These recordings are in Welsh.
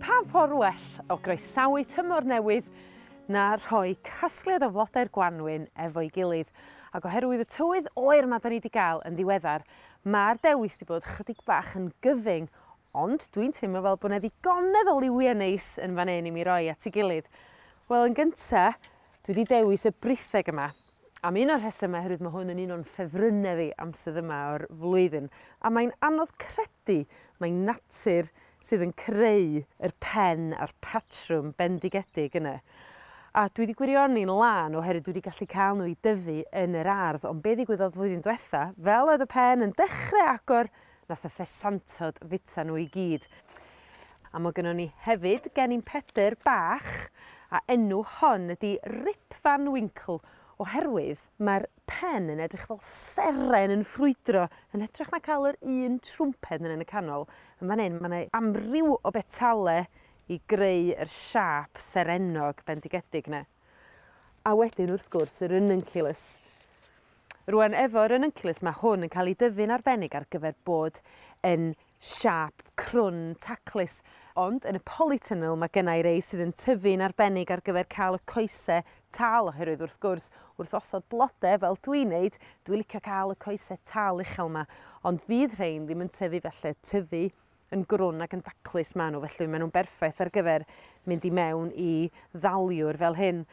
Pa ffordd well o groesawu tymor newydd na rhoi casgliad o flodau'r gwanwyn efo'i gilydd ac oherwydd y tywydd oer yma 'dan ni 'di gael yn ddiweddar ma'r dewis 'di bod chydig bach yn gyfyng ond dwi'n teimlo fel bo' 'na ddigonedd o liwie neis yn fan 'yn i mi roi at 'i gilydd. Wel yn gynta Dwi 'di dewis y britheg yma am un o'r rhesymau oherwydd mae hwn yn un o'n ffefrynnau fi am sydd yma o'r flwyddyn a mae'n anodd credu mae natur sydd yn creu yr pen a'r patrwm bendigedig yna. A dwi 'di gwirioni'n lân oherwydd dwi 'di gallu cael nhw i dyfu yn yr ardd ond be' ddigwyddodd flwyddyn diwetha fel oedd y pen yn dechrau agor Nath y ffesantod fita nhw i gyd. A ma' gynnon ni hefyd gennin Pedr bach a enw hon ydi Rip Van Winkle oherwydd mae'r pen yn edrych fel seren yn ffrwydro yn hytrach na cael yr un trwmped yn yn y canol. Yn fan hyn mae 'na amryw o betale i greu yr siâp serennog bendigedig 'na. A wedyn wrth gwrs y rununculus. Rwan efo rununculus mae hwn yn cael ei dyfu'n arbennig ar gyfer bod yn siâp crwn taclus. Ond yn y polytunnel mae gynna i rei sydd yn tyfu'n arbennig ar gyfer cael y coese tal oherwydd wrth gwrs wrth osod blode fel dwi'n neud dwi'n licio cael y coese tal uchel 'ma ond fydd rhein ddim yn tyfu felly tyfu yn grwn ac yn daclus maen nhw, felly maen nhw'n berffaith ar gyfer mynd i mewn i ddaliwr fel hyn.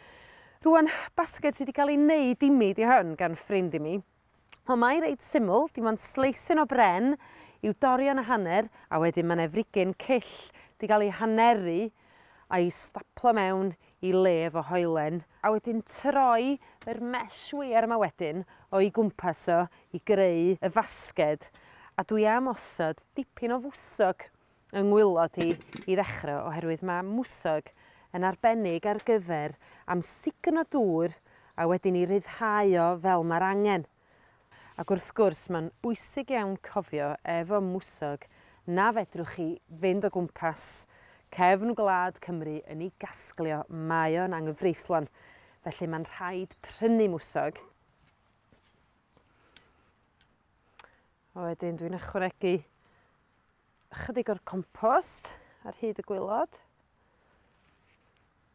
Rwan, basged sydd wedi cael ei wneud i mi, di hwn, gan ffrind i mi. Ond mae reit syml, dim ond sleisyn o bren i'w dorion a hanner, a wedyn mae yna frigyn cyll wedi cael ei haneru a'i staplo mewn i le efo hoelen a wedyn troi yr mesh weir yma wedyn o'i gwmpas o i greu y fasged a dwi am osod dipyn o fwsog yng ngwylod hi i ddechre oherwydd ma' mwsog yn arbennig ar gyfer amsugno dŵr a wedyn 'i ryddhau o fel ma'r angen. Ac wrth gwrs, mae'n bwysig iawn cofio efo mwsog na fedrwch chi fynd o gwmpas cefn gwlad Cymru yn ei gasglio, mae o'n anghyfreithlon. Felly mae'n rhaid prynu mwsog. A wedyn dwi'n ychwanegu ychydig o'r compost ar hyd y gwylod.